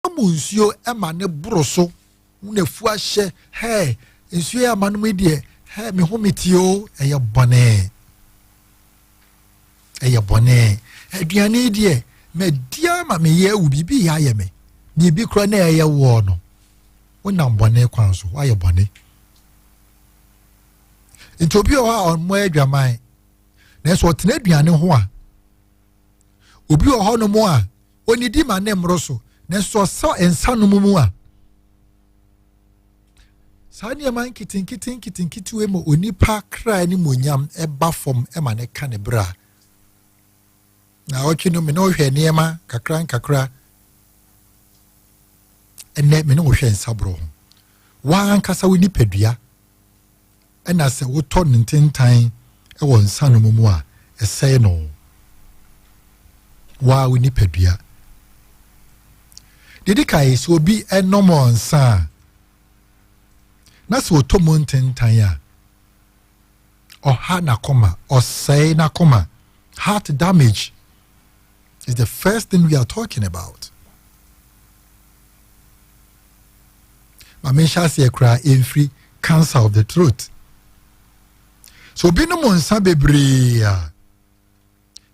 Ɛma mu nsuo ɛma ne boro so na afu ahyɛ hɛɛ nsuo yɛ ama no mu deɛ hɛɛ me ho metie o ɛyɛ bɔne ɛyɛ bɔne aduane deɛ madi ama meyɛ awu biribi yɛ ayɛ me biribi kora na ɛyɛ woɔ no wonam bɔne kwan so woayɛ bɔne nti obi wɔ hɔ a ɔmmɔ adwaman nanso ɔtena aduane ho a obi wɔ hɔnom a Onnidi ma ne mmoro so, nanso sɛ ɔsɔ nsa nom mu a, saa nneɛma nketenkete nketenkete wei ma onipa kra ne monyam ɛba fam ma ne ka ne bra na ɔtwe no me ne ɔhwɛ nneɛma kakra nkakra ɛnɛ me ne ɔhwɛ nsaborɔ ho wɔn ankasa wo nipadua Ɛna sɛ wotɔ no ntentan wɔ nsanom mu a, ɛsɛe no. Waa wo nipadua. Deɛ di kan sɛ obi nom nsa a, na sɛ ɔtɔ mu ntentan a, ɔha n'akoma, ɔsɛe n'akoma, heart damage. It's the first thing we are talking about. Ma menhyɛ aseɛ koraa ɛmfiri cancer of the throat. So obi nom nsa bebree a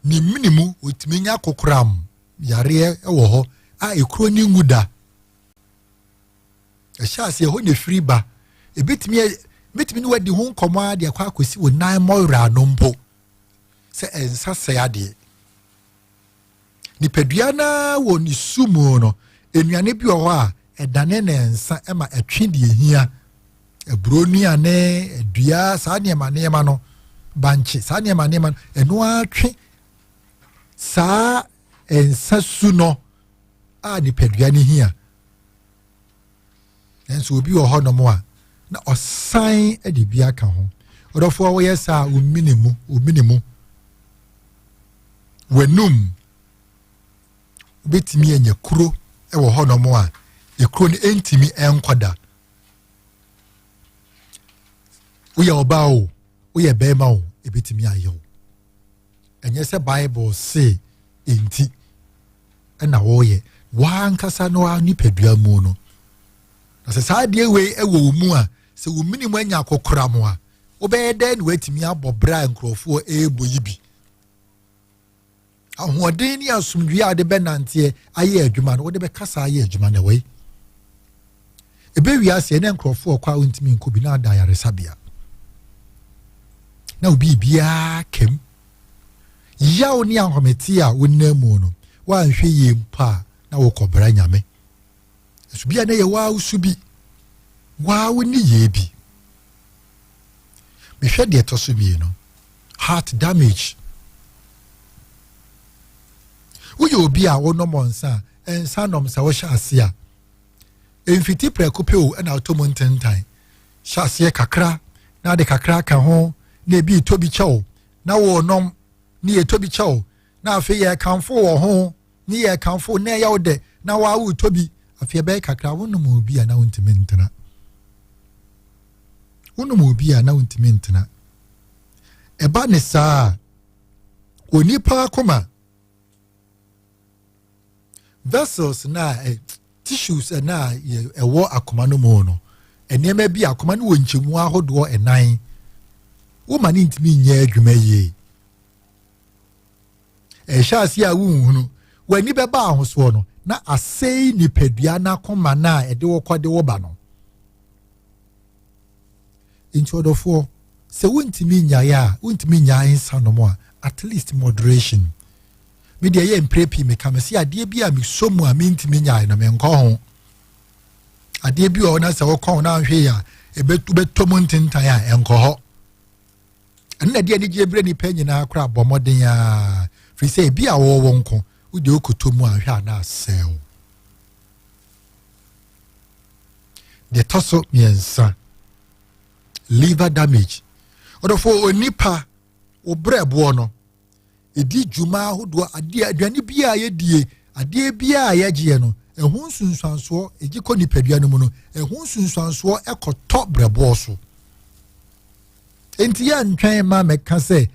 ne mene mu ɔtumi nya kokoram yareɛ wɔ hɔ a ɛkuro ne ngu da. Ɛhyɛ aseɛ hɔ na ɛfiri ba. Ɛbɛtumi ɛbɛtumi ne wadi ho nkɔmmɔ a de akɔ akɔsi wo nan mmɔwerɛ ano mpo. sɛ ɛnsa sɛe adeɛ nipadua no ara wɔ ne su mu no nnuane bi wɔ hɔ a ɛdane ne nsa ma ɛtwe deɛ ɛhia aburo nnuane adua saa nneɛma nneɛma no bankye saa nneɛma nneɛma no ɛno ara twe saa nsa su no a nipadua no hia nanso obi wɔ hɔnom a na ɔsan de bi aka ho ɔdɔfo a wɔyɛ saa omini mu omini mu w'anum wobɛtumi anya kuro wɔ hɔnom a ekuro no ɛntumi ɛnkɔ da woyɛ ɔbaa o woyɛ bɛrima o ɛbɛtumi ayɛ o ɛnyɛ sɛ bible se nti na wɔyɛ w'ankasa no a nipadua mu no na sɛ saa adeɛ wei wɔ wo mu a sɛ wo mene mu anya akɔkora mo a wobɛyɛ dɛn na woatumi abɔ berɛ a nkurɔfoɔ ɛrebɔ yi bi ahoɔden ne asomdwie a wode bɛnanteɛ ayɛ adwuma no wode bɛkasa ayɛ adwuma na wei Ebe wiase ɛnɛ nkurɔfoɔ ɔkɔ a wontumi nkɔ bi na ada ayaresabea na obi biara kɛm yaw ne ahomete a wonam mu no woanhwɛ yie mpo a na wokɔbra nyame ɛso bi a na yɛ waa wosu bi waa wo ne yie bi mehwɛ deɛ ɛtɔ so mmienu heart damage woyɛ obi a wonom nsa a ɛnsa nom sɛ wohyɛ ase a Mfiti prɛko pɛ o na ɔtɔ mu ntentan. Hyɛ aseɛ kakra na ade kakra aka ho na ebi retɔ bi kyɛw na wɔrenom ne yɛ tɔ bi kyɛw na afei yɛ kamfo wɔ ho ne yɛ kamfo na ɛyɛ wo dɛ na waa wotɔ bi afei ɛbɛyɛ kakra wonom obi a na wontumi ntena wonom obi a na wontumi ntena ɛba ne saa onipa akoma vessels na eh, tissues na ɛwɔ akoma no mu no nneɛma bi akoma no wɔ nkyɛmu ahodoɔ ɛnan woma ne ntumi nyɛ adwuma yie ɛhyɛ ase a wonhunu w'ani bɛba ahosoɔ no na asɛe nipadua no akoma no a ɛde wɔkɔ de wɔba no Nti ɔdɔfoɔ, sɛ wontumi nnyaeɛ a, wontumi nnyaa nsa nom a, at least moderation. Me deɛ ɛyɛ mprɛ pii meka me se adeɛ bi a mesɔ mu a mentumi nnyae no menkɔ ho. Adeɛ bi wɔ na sɛ wokɔ ho na anhwɛ yi a ɛbɛtɔ mu ntentan a ɛnkɔ hɔ. Ɛno na ɛde anigyeɛ berɛ nnipa nyinaa koraa bɔ mmɔden a firi sɛ ebi a wɔwɔ nko wode wokɔtɔ mu anhwɛ a na asɛe wo. Deɛ ɛtɔ so mmiɛnsa, liver damage. Ɔdɔfo onipa, wo brɛboɔ no, ɛdi dwuma ahodoɔ, adeɛ, aduane bi a yɛdie, adeɛ bi a yɛgyeɛ no, ɛho nsunsuansoɔ, ɛgye kɔ nipadua no mu no, ɛho nsunsuansoɔ ɛkɔtɔ brɛboɔ so. Enti yɛ ntwɛn ma mɛka sɛ,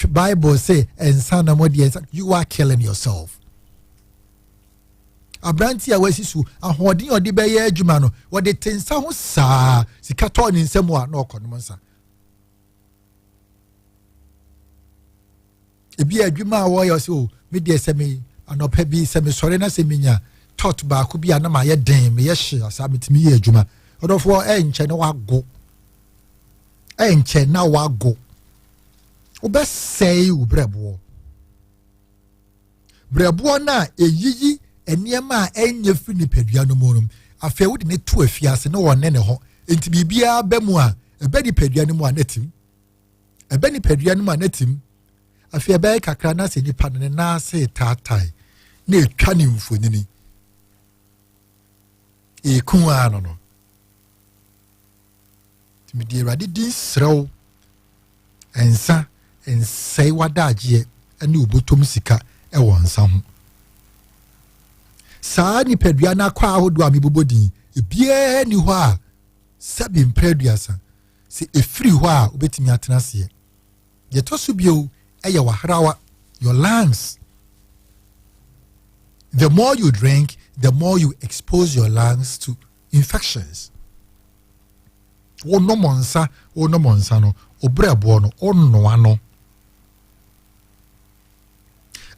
Bible sɛ, ɛnsa na mo deɛ, you are killing yourself. aberante a wasi so ahoɔden a ɔde bɛyɛ adwuma no wɔde te nsa ho saa sika tɔɔ ne nsam a na ɔkɔ nom nsa ebi a adwuma a wɔyɛ sɛ o oh, me deɛ sɛ me anɔpa bi sɛ me sɔre na sɛ me nya tɔt baako bi a na ma yɛ den me yɛ hye asaa me tumi yɛ adwuma ɔdɔfoɔ ɛnkyɛn na wago ɛnkyɛn na wago wobɛsɛe wo brɛboɔ berɛboɔ no a ɛyiyi nneɛma a ɛnyɛ firi nipadua no mu no afei wode ne to afiase na ɔne ne hɔ nti biribiara bɛ mu a ɛbɛ nipadua no mu a n'atim ɛbɛ nipadua no mu a n'atim afei ɛbɛyɛ kakra na sɛ nipa no ne nan ase taatae na ɛtwa ne mfonini ɛkun ara no no nti mede awurade din serɛ wo ɛnsa nsɛe w'adagyeɛ ne wobɔtɔm sika wɔ nsa ho saa nipadua no akɔ ahodoɔ a mebobɔ din ebiara ni hɔ a sɛbi mpɛ aduasa sɛ ɛfiri hɔ a wobɛtumi atena aseɛ deɛ ɛtɔ so bio ɛyɛ wahrawa your lungs the more you drink the more you expose your lungs to infections wonom nsa wonom nsa no obrɛboɔ no wonoa no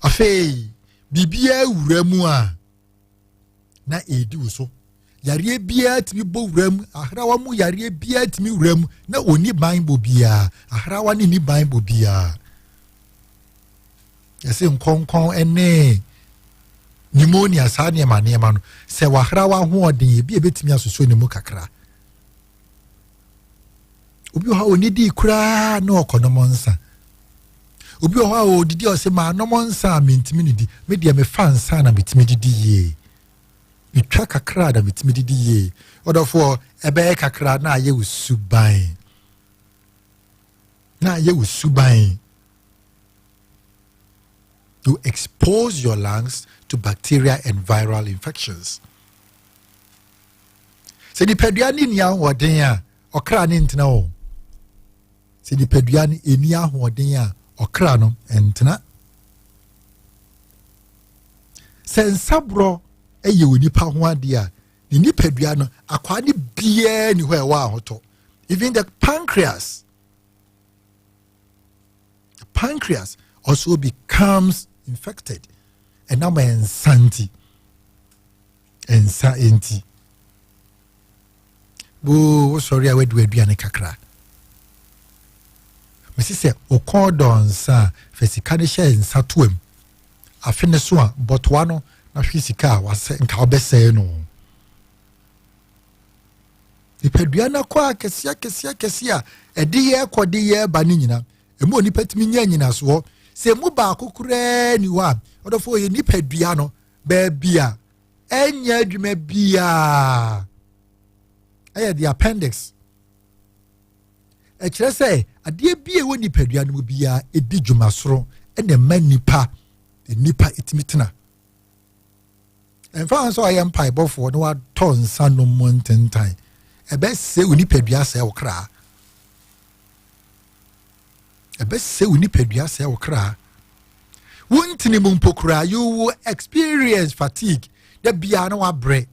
afei biribiara wura mu a na ɛredi wo so yareɛ biara tumi bɔ wura mu ahrawa mu yareɛ biara tumi wura mu na ɔni ban bɔ biara ahrawa ne ni ban bɔ biara yɛsɛ nkɔnkɔn ne pneumonia saa nneɛma nneɛma no sɛ wahra wahoɔden ebi ebetumi asoso ne mu kakra obi wɔ hɔ a onidi koraa na ɔkɔ nom nsa obi wɔ hɔ a odidi ɔsɛ maa nom nsa a mentumi ne di me deɛ mefa nsa na metumi didi yie metwa kakra na metumi didi yie ɔdɔfoɔ ɛbɛyɛ kakra na ayɛ wo suban na ayɛ wo suban. You expose your lungs to bacteria and viral infections. Sɛ nipadua no nni ahoɔden a, ɔkra no ntena o. Sɛ nipadua no nni ahoɔden a, ɔkra no ntena. Sɛ nsaborɔ yɛ onipa ho adeɛ a, ne nipadua no akwaa no biara ni hɔ a ɛwɔ ahotɔ. Even the pancreas. The pancreas also becomes infected. And now my insanity. Insanity. Oh, sorry, I went to a duane kakra. mesi sɛ wokɔɔ dɔnsa a fɛ sika no hyɛ nsa toam afe no so a bɔtoa no na hwe sika a wasɛ nka wobɛsɛe no Nipadua no akɔ akɛse akɛse akɛse a ɛde yɛ kɔ de yɛ ba no nyina. Ɛmu onipa tumi nya nyinasoɔ. Sɛ ɛmu baako koraa ni hɔ a, ɔdɔfoɔ yɛ nipadua no baabi a ɛnyɛ adwuma biara. Ɛyɛ the appendix. Ɛkyerɛ sɛ adeɛ bi a ɛwɔ nipadua no mu biara ɛdi dwuma soro ɛna ɛma nipa nipa ɛtumi tena. ɛmfa ho sɛ ɔyɛ mpaebɔfoɔ na watɔ nsa nom mu ntentan ɛbɛsɛ wo nipadua sɛ wo kra ɛbɛsɛ wo nipadua sɛ wo kra wontini mu mpo koraa you will experience fatigue da biara na wabrɛ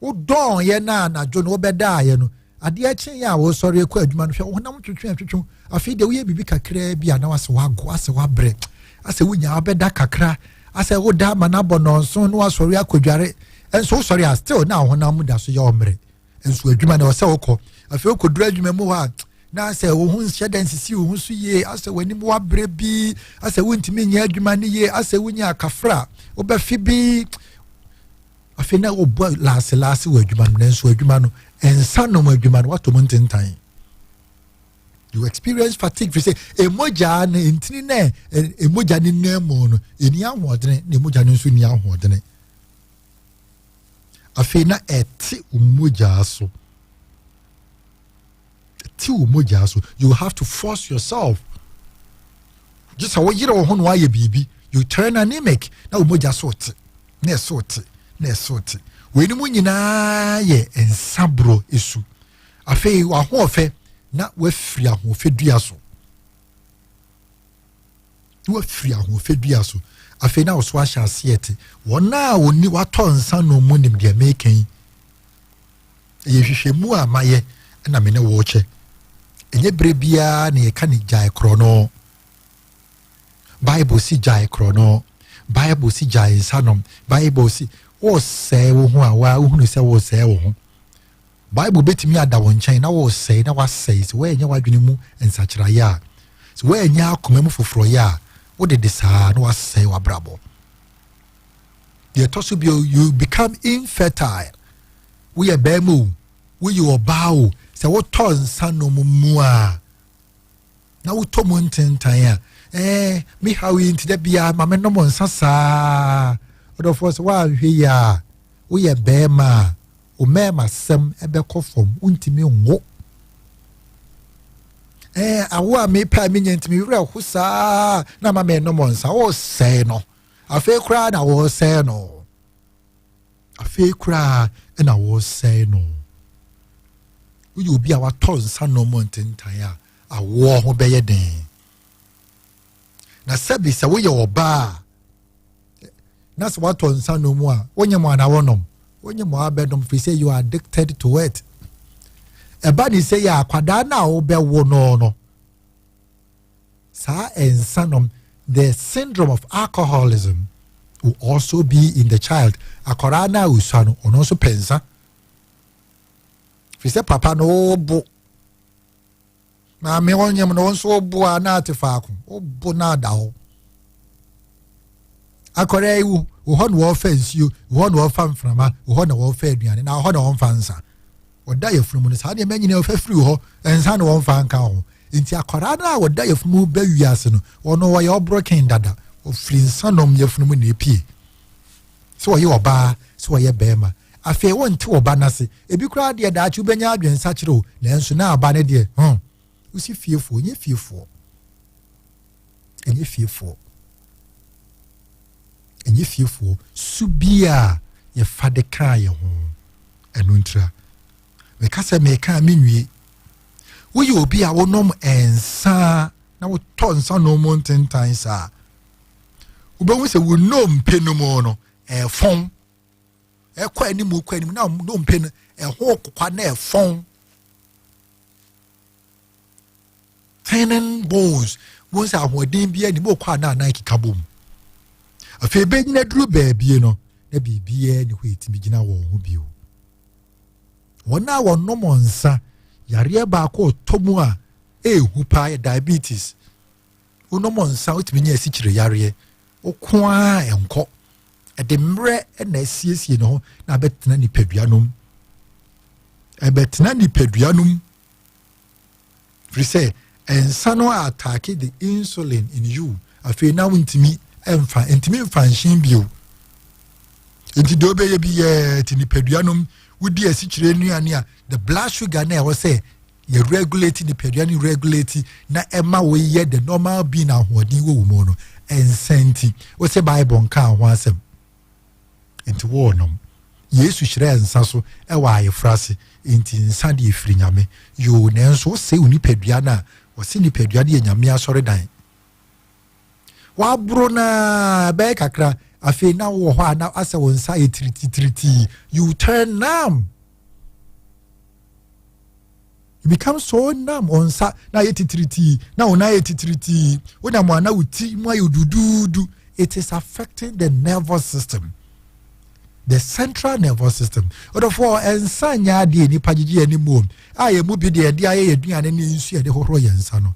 Wodɔɔ yɛn na anadwo no wobɛdaa yɛn no, adeɛ kye yɛn a woresɔre kɔ adwuma no, hwɛ wo honam twetwe atwetwe, afei deɛ woyɛ biribi kakraa bi a na wasɛ wago, asɛ wabrɛ, asɛ wonya abɛda kakra, asɛ woda ama no abɔ nnɔnso na wasɔre akɔdware, nso wosɔre a still na wo honam mu da so yɛ ɔmmerɛ, nso adwuma na ɔsɛ wokɔ, afei wokɔduru adwuma mu hɔ a na asɛ wo ho nhyɛ dɛ nsisi wo ho so yie, asɛ w'anim wabrɛ bi, asɛ wontumi nyɛ adwuma no yie, asɛ wonya akafra wobɛfe bi, afei na wɔbɔ laase laase wɔ adwuma no nanso adwuma no nsa nom adwuma no wato mu ntentan you experience fatigue fi sɛ emogya na ntini na emogya ne nan mu no eni ahoɔdene na emogya no nso ni ahoɔdene afei na ɛte omogya so. ɛte wo mogyaa so you have to force yourself gye sɛ woyere wo ho na woayɛ biribi you turn anemic na wo mogya so te na ɛso te na ɛso te weinom nyinaa yɛ nsaborɔ esu afei w'ahoɔfɛ na wafiri ahoɔfɛ dua so na wafiri ahoɔfɛ dua so afei na ɔso ahyɛ aseɛ te wɔn a wɔni watɔ nsa nom mu nim deɛ meka yi ɛyɛ hwehwɛmu a mayɛ na me ne wɔkyɛ ɛnyɛ berɛ biara na yɛka ne gyae korɔ no bible si gyae korɔ no bible si gyae nsa nom bible si wɔsɛe wo ho a wohunu sɛ wɔsɛe wo ho Bible bɛtumi ada wo nkyɛn na woresɛe na woasɛe sɛ woannya w'adwene mu nsakyeraeɛ a, sɛ woannya akoma mu foforɔyɛ a, wode de saa na woasɛe w'abrabɔ. Deɛ ɛtɔ so bio, you become infertile. Woyɛ bɛrima o, woyɛ ɔbaa o, sɛ wotɔ nsa nom mu a, na wotɔ mu ntentan a, ɛɛ eh, me haw yi nti da biara ma me nom nsa saa. Ɔdɔfoɔ sɛ woanhwɛ yi a, woyɛ bɛrima a, Wo mmarima sɛm ɛbɛkɔ fam, wontumi nwo. Ɛɛ awo a mepɛ a menya ntumi werɛ ho saa na ma menom nsa wɔresɛe no. Afei koraa na wɔresɛe no. Afei koraa na wɔresɛe no. Woyɛ obi a watɔ nsa nom ntentan a awoɔ ho bɛyɛ den. na sɛbi sɛ woyɛ ɔbaa a na sɛ watɔ nsa nom a wonyɛ mo anaa wɔnom wonyɛ mo abɛnom firi sɛ you are addicted to it ɛba ne sɛ yɛ akwadaa no a wobɛwo no no saa nsa nom the syndrome of alcoholism will also be in the child akwadaa no a osua no ɔno nso pɛ nsa firi sɛ papa no wobo Maame wo nyem no wo nso wo bo a na ate faako wo bo na ada hɔ akɔrɛ yi wo hɔ na wɔfa nsuo wo hɔ na wɔfa mframa wo hɔ na wɔfa aduane na hɔ na wɔmfa nsa ɔda yɛfunu mu no saa nneɛma nyinaa ɔfa firi hɔ nsa na wɔmfa nka ho nti akwaraa no a wɔda yɛfunu mu bɛ wiase no ɔno wɔyɛ ɔborɔ ken dada ɔfiri nsa nom yɛfunu mu na epie sɛ ɔyɛ ɔbaa sɛ ɔyɛ bɛrima Afei wonte ɔba no ase. Ebi koraa deɛ daakye wobɛnya adwensakyere o, nanso na aba no deɛ, huh, wosi fiefoɔ, ɛnyɛ fiefoɔ. Ɛnyɛ fiefoɔ. Ɛnyɛ fiefoɔ. Su bi a yɛfa de kaa yɛn ho, ɛno ntira. Meka sɛ meka a menwie. Woyɛ obi a wonom nsa na wotɔ nsa nom mu ntentan saa. Wobɛhu sɛ wo nnompe no mu no, ɛfɔn. ɛkɔ anim kɔ anim na nnompe no ɛho kokwa na ɛfɔn tenen bones wɔn sɛ ahoɔden bi anim okɔ a na anan keka bom afei bɛnyina duru baabie no na biribiara ne hɔ ɛtumi gyina wɔn ho bio wɔn a wɔnom nsa yareɛ baako ɔtɔ mu a ɛɛhu paa yɛ diabetes wonom nsa wotumi nya asikyire yareɛ woko ara nkɔ ɛde mmerɛ na asiesie ne ho na abɛtena nipadua no mu ɛbɛtena nipadua no mu firi sɛ nsa no a ataake the insulin in you afei na wontumi mfa ntumi mfa nhyen bio nti deɛ wobɛyɛ bi yɛ ti nipadua no mu wodi asikyire nnuane a the blood sugar na ɛwɔ sɛ yɛ regulate nipadua no regulate na ɛma woyɛ the normal being ahoɔden wɔ wo mu no ɛnsa nti wosɛ bible nkaa ho asɛm nti wɔnom yesu hyerɛɛ nsa so ɛwɔ ayefra ase nti nsa deɛ firi nyame yoo nanso wosɛ wo nipadua no a wɔse nipadua no yɛ nyame asɔredan waboro no ara ɛbɛyɛ kakra afei na wowɔ hɔ a na asɛ wo nsa yɛ tirititiritii you turn numb you become so numb wɔn nsa na ayɛ titiritii na wɔn ayɛ titiritii wonam wɔn ana wo ti mu ayɛ duduudu it is affecting the nervous system the central nervous system ɔdɔfoɔ nsa nyɛ adeɛ nipa gyegye yɛn mu a yɛn mu bi deɛ yɛde ayɛ yɛn aduane ne nsu yɛde hohoro yɛn nsa no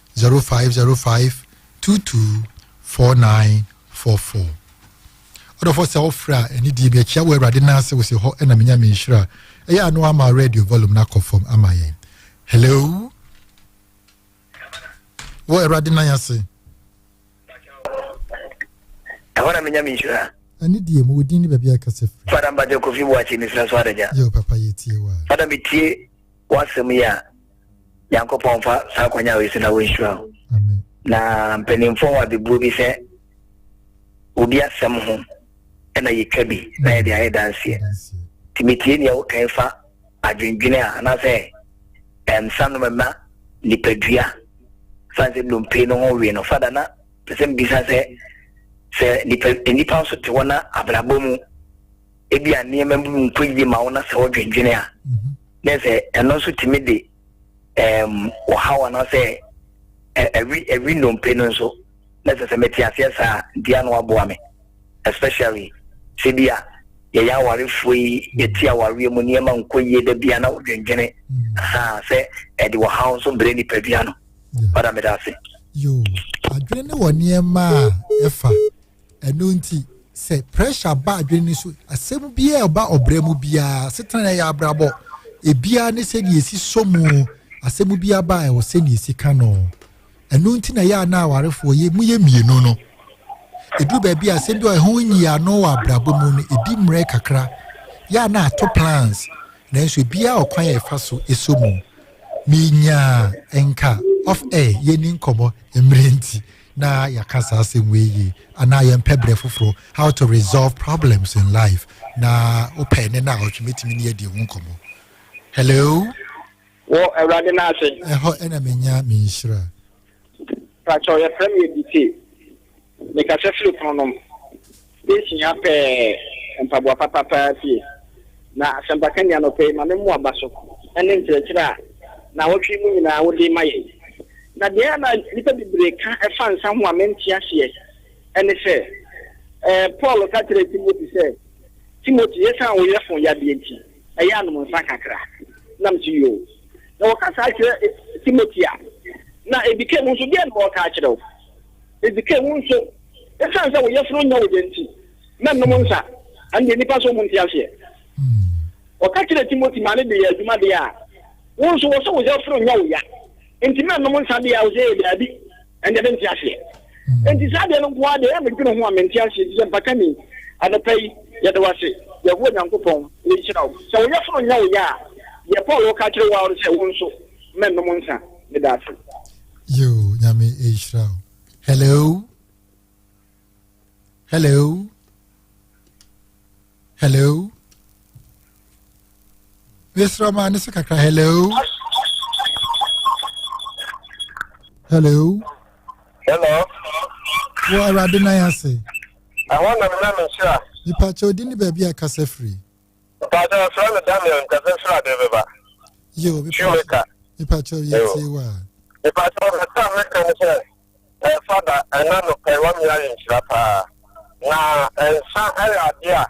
0505 22 4944. Ɔdɔfo sɛ wofrɛ a ɛne die mekyia wɔ awurade no ase wose hɔ ɛna menya me nhyira ɛyɛ ano ama radio volume no akɔ fam ama yɛn hello wɔ awurade nan ase ɛhɔ na menya me nhyira ɛne deɛ mu wodin ne baabi a ɛkasa firi fada mbagyɛ kofi boakye mesira so adagya yɛ papa yɛtie wa fada metie w'asɛm yi a nyankopɔn mfa saa akwanya wei so na wɔnhyira wo na mpanimfoɔ wɔ abebuo bi sɛ obi asɛm ho ɛna yɛtwa bi na yɛde ayɛ danseɛ nti metie nea wokan fa adwendwene a anaasɛ ɛmsa no mɛma nipadua fa sɛ nnompe no ho wie no fada na pɛ sɛ mbisa sɛ sɛ nipa nso te hɔ na abrabɔ mu ebia nneɛma bi nkɔ yie ma wo na sɛ wodwendwene a na sɛ ɛno nso tumi de um, ɔhaw anaasɛ ɛwi ɛwi nnompe no nso na sɛ sɛ mete aseɛ saa nti ano aboa me especially sɛ bi a yɛyɛ awarefoɔ yi yɛti awareɛ mu nneɛma nkɔ yie da bia na wodwendwene ha sɛ ɛde ɔhaw nso brɛ nipadua no ɔda meda ase yo adwene ne wɔ nneɛma a ɛfa ɛno nti sɛ pressure ba adwene no so asɛm biara a ɛba ɔbrɛ mu biara setena na ɛyɛ abrabɔ ebiara ne sɛ deɛ ɛsi so mu asɛm biara ba a ɛwɔ sɛ deɛ ɛsi ka no ɛno nti na ɛyɛ a na awarefoɔ yɛ mu yɛ mmienu no ɛduru baabi a asɛm bi a ɛho nyi ano wɔ abrabɔ mu no ɛdi mmerɛ kakra yɛ a na ato plans nanso ebiara ɔkwan a ɛfa so ɛso mu menyaa nka off air yɛni nkɔmmɔ mmerɛ nti na yɛaka saa asɛm wei yie anaa yɛmpɛ berɛ foforɔ how to resolve problems in life na wopɛ ne na ɔtwe mɛtumi ne yɛdi ho nkɔmmɔ hello wɔ awurade no ase ɛhɔ ɛna menya me nhyira pakyɛ yɛfrɛ me ɛdite mekasɛ firi pono nom Yebehia pɛɛ mpaboa papa paa fie. Na asɛmpaka nni anɔpa yi, ma me mmoa ba so ne nkyerɛkyerɛ a naawɔtwe yi mu nyinaa wode rema yɛn yi. Na deɛ ɛyɛ na nnipa bebree ka fa nsa ho a mente aseɛ ne sɛ, ɛɛ, Paul ka kyerɛɛ Timothy sɛ, Timothy, esiane wo yafunu yadeɛ nti, ɛyɛ a nom nsa kakra. Na mete yoo. Na wɔka saa kyerɛ Timothy a, na ebi ka mu nso, deɛn na wɔreka akyerɛ wo? Edzi kan, wo nso, esiane sɛ wo yefunu nyɛ wo dɛ nti, mɛnom nsa. Ɛno deɛ nnipa nso nnte aseɛ. Ɔka kyerɛɛ Timothy maa no de yɛɛ adwuma deɛ a, wo nso wɔ sɛ wo yefunu nyɛ wo ya nti mɛnom nsa deɛ a, wo sɛ ee daabi, ɛno deɛ mente aseɛ. Enti saa adeɛ no nko ara deɛ, ɛyɛ a medwene ho a mente aseɛ. Enti sɛ mpata ni, anɔpa yi, yɛda wo ase, Yehowa Nyankopɔn, na yɛhyira wo. Sɛ wo yefunu nyɛ wo ya a, deɛ Paul reka akyerɛ wo ara ne sɛ, wo nso, mɛnom nsa. Meda ase. Yoo nyame ehyira o. Hello. Hello. Hello. Mesra ma ne so kakra hello. Hello. Hello. Wo awurade nan ase. Ɛhɔ na mena me nhyira. Nipa kyɛ odi ne baabi a kasa firi. Mpakyɛw nfrɛ me Daniel nka sɛ Srade bɛba. Yo, Shoemaker. Mpakyɛw yɛ tie wo a. Mpakyɛw nasa mɛka ne sɛ eh, fada ɛna no pɛ wami ayɛ nhyira paa. Na nsa ɛyɛ ade a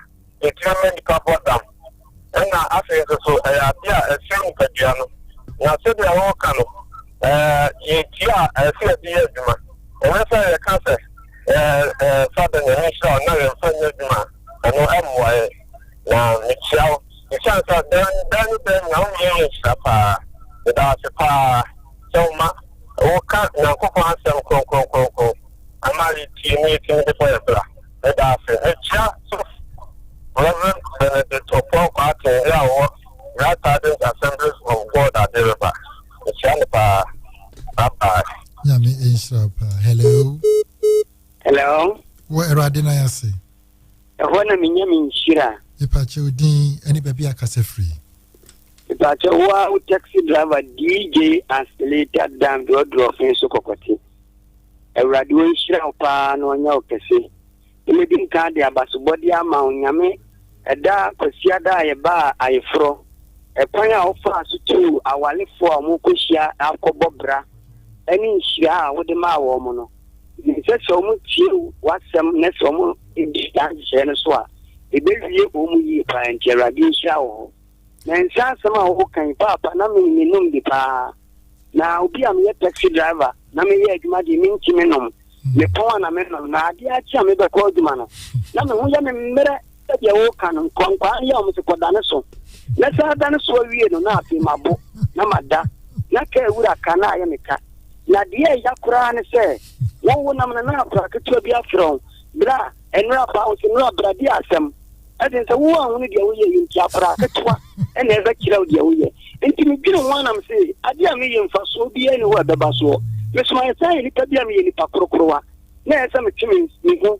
ɛtumi ma nipa bɔ dam. Ɛna afei nso so ɛyɛ ade a ɛsɛ nipadua no. Na sɛdeɛ wɔka no eh, yɛ dua a ɛsɛ yɛde yɛ adwuma. Ɛnyɛ sɛ yɛka sɛ eh, eh, fada nyame nhyira na yɛmfa nyɛ adwuma a, ɛno ɛmmoa yɛ. Na mekyia wo. Mekyia nso a, dɛn dɛn ne dɛn na woyɛ yɛ nhyira paa. Meda wo ase paa sɛ woma woka Nyankopɔn asɛm kronkron kronkron ama yɛtie na yɛtumi de bɔ yɛ bra. Meda wo ase. Mekyia sɔfo Rev. Benedict Opon Kwarteng yi a ɔwɔ Grass Hardens Assemblies of God Ade Reba. Mekyia no paa. Bye bye. Nyame nhyira paa. Hello. Hello. Wɔ Awurade na yɛase. Ɛhɔ na menya me nhyira. Mepakyɛ wo din ɛne baabi a kasa firi. Mepakyɛ wo a wo taxi driver DJ Asilita Dan Dɔdrɔfin so kɔkɔte. Awurade wo nhyira wo paa na ɔnyɛ wo kɛse. Mmedi nka de abasobɔde ama wo nyame ɛda kwasiada a yɛbaa ayeforɔ. Ɛkwan a wofaa so tuu awalefoɔ a wɔkɔhyia akɔbɔ bra ɛne nhyira a wode maa wɔn no. Na ɛsɛ sɛ wɔtie w'asɛm na sɛ wɔdi saa nhyehyɛeɛ no so a, ɛbɛwie wɔn yie paa. Nti Awurade nhyira wo. Na nsa asɛm a woka yi, paapa na me menom bi paa. Na obi a meyɛ taxi driver na meyɛ adwuma deɛ mentumi nom. Mepɔn a na menom. Na adeɛ akye a mebɛkɔ adwuma no, na me ho yɛ me mmerɛ. sɛdeɛ woka no nkwankwaa no yɛ wɔn sɛ kɔdane so na saa dane so awie no na afei mabo na mada na ka awura ka na ayɛ me ka na deɛ ɛya koraa ne sɛ wowo nam no na akora ketewa bi afrɛ wo berɛ a ɛnora ba wo sɛ nora bra bi asɛm ɛden sɛ wowo ahunu deɛ woyɛ yɛ nti akora ketewa ɛna ɛbɛkyerɛ wo deɛ woyɛ nti medwene ho anam sɛ adeɛ a meyɛ mfasoɔ biaa ne hɔ ɛbɛba soɔ mesomayɛ saa yɛ nnipa bi a meyɛ nnipa korokorowa na ɛsɛ metwe me ho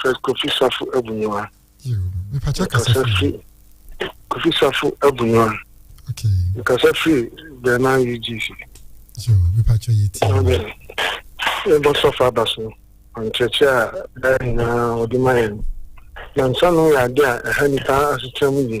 Fred Kofi Safo Abunyiwa. Mepatwa kasa firi. Kofi Safo Abunyiwa. Okay. Mekasa firi Bɛma UGC. Yo, mepatwa yɛ ti. Ɛbɔ sɔfo aba so. Nkyerɛkyerɛ a daa nyinaa ɔde ma yɛn. Nansa no yɛ ade a ɛha nipa asetram yie.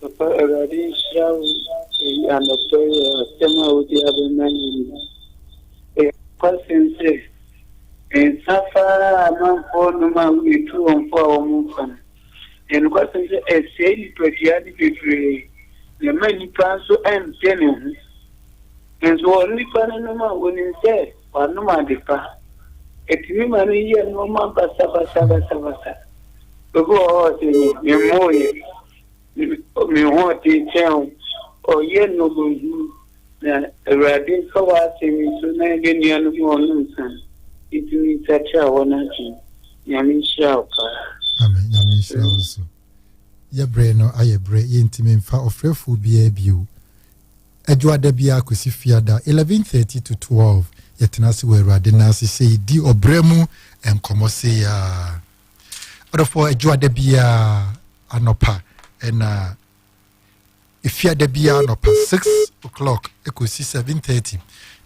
Papa awurade nhyira wo eyi anɔpa yi wɔ asɛm a wode aba ma yi mu no ɛyɛ nokwasɛm sɛ nsa fa ara a amanfoɔ nom a woyɛ tu wɔn fo a wɔn mfa no ɛyɛ nokwasɛm sɛ ɛsɛe nipadua no bebree na ɛma nipa nso ɛnte ne ho nso wɔ nipa no nom a wɔnim sɛ wanom ade pa ɛtumi ma no yɛ nnoɔma basabasabasabasa obi wɔ hɔ sɛ me mmoyɛ me ho ɔden kyɛn wo, ɔyɛ nnommumhunu, na Awurade mfa w'asɛm nto na yɛn nuanom a wɔnom nsa no ntumi nsakyera wɔn adwene. Nyame nhyira wo paa. Amen, Nyame nhyira wo nso. Yɛ berɛ no ayɛ berɛ, yɛntumi mfa ɔfrɛfoɔ biara bio. Adwoada biara kɔsi fiada 11:30 to 12, yɛtena ase wɔ Awurade nan ase sei di ɔbrɛ mu nkɔmmɔ sei ara. adɔfoɔ adwuma da biara anɔpa ɛna efia da biara anɔpa six o'clock ekosi seven thirty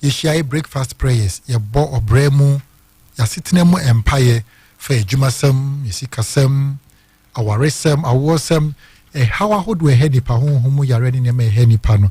yɛhyia yɛ breakfast prayers yɛbɔ ɔbrɛ mu yɛasetena mu mpaeɛ fa adwumasɛm yɛsikasɛm awaresɛm awoɔsɛm ɛhaw ahodoɔ ɛhɛ nipa honhom mu yareɛ ne nneɛma ɛhɛ nipa no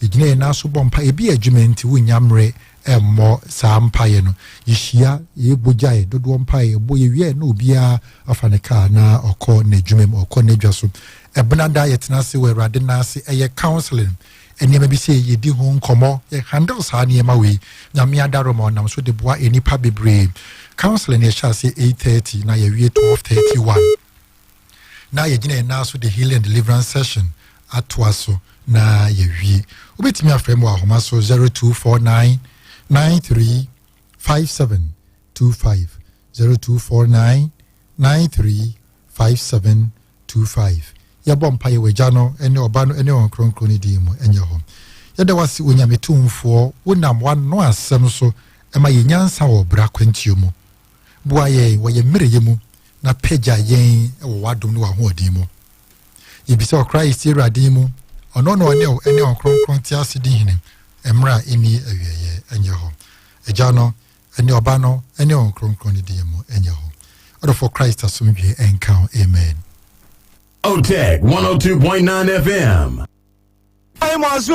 yɛgyina yɛn nan so bɔ mpa ebi adwuma nti wonnya mmerɛ mmɔ saa mpaeɛ no. Yɛhyia, yɛyɛ bogyaeɛ dodoɔ mpaeɛ yɛbɔ, yɛwie a na obiara afa ne kaa na ɔkɔ n'adwuma mu, ɔkɔ n'adwa so. Ɛbenada yɛtena ase wɔ Awurade nan ase, ɛyɛ counseling, nneɛma bi sɛ yɛdi ho nkɔmmɔ, yɛ handle saa nneɛma wei. Nyame adaroma ɔnam so de boa nnipa bebree. Counseling yɛhyɛ ase 8:30 na yɛwie 12:31. na yɛgyina yɛn nan so de healing and deliverance session atoa so na yɛwie wobɛtumi afrɛ mu wɔ ahoma so 0249 93 5725 0249 93 5725 yɛbɔ mpa yɛwɔ agya no ne ɔba no ne wɔn kronkron no din mu ɛnyɛ hɔ yɛda wase onyame tumfoɔ wonam wano asɛm so ɛma yɛ nyansa wɔ bra kwantuo mu Boa yɛn wɔ yɛn mmerɛyɛ mu na pagya yɛn wɔ w'adom ne w'ahoɔden mu. Yɛbisa ɔkra yi si Awurade mu, ɔno na ɔne wo ne ɔkronkron te ase di hene mmerɛ a ɛni awieɛ ɛnyɛ hɔ. Agya no ne ɔba no ne ɔkronkron ne deɛ mu ɛnyɛ hɔ. Ɔdɔfoɔ Christ asomdwie ɛnka ho. Amen. Oteg 102.9 FM. Ai mo aso.